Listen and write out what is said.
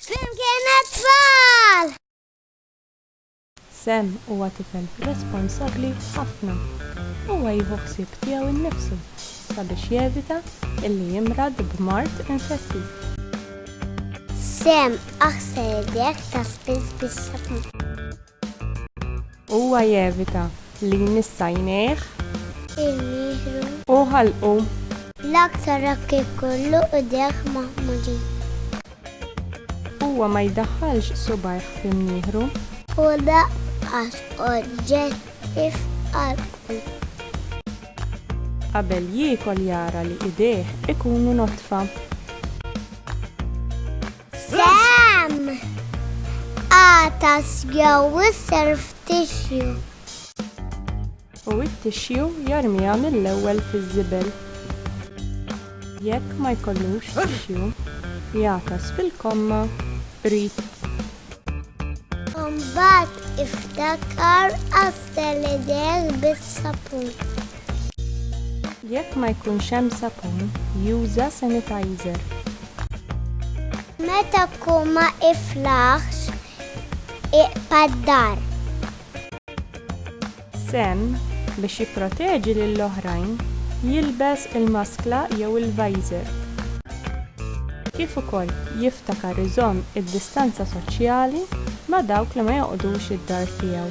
Flimkien għat-tfal! Sam huwa tifel responsabbli ħafna. Huwa jieħu ħsieb tiegħu nnifsu sabiex jevita illi jimrad b'mard infettiv. Sam, aħsel idejk ta' spiss bis-sabun. Huwa jevita li jmiss għajnejh. Il-mihru. U ħalqu. L-aktar hekk ikollu idejh maħmudin. Huwa ma jdaħħalx subgħajh fl-imnieħru. U lanqas oġġetti f'qalbu. Qabel jiekol jara li idejh ikunu nodfa. Sam! Għatas jew is-self tissue. U t-tissue jarmiha mill-ewwel fiż-żibel. Jekk ma jkollux tissue, jagħtas fil-komma qrib. Imbagħad iftakar għassel idejk bis-sapun. Jekk ma jkunx hemm sapun, juża sanitizer. Meta tkun ma iflaħx, iqta' d-dar. Sam, biex jipproteġi lil oħrajn, jilbes il-maskla jew il-visor. Kif ukoll jiftakar iżomm id-distanza soċjali ma' dawk li ma joqgħodux id-dar tiegħu.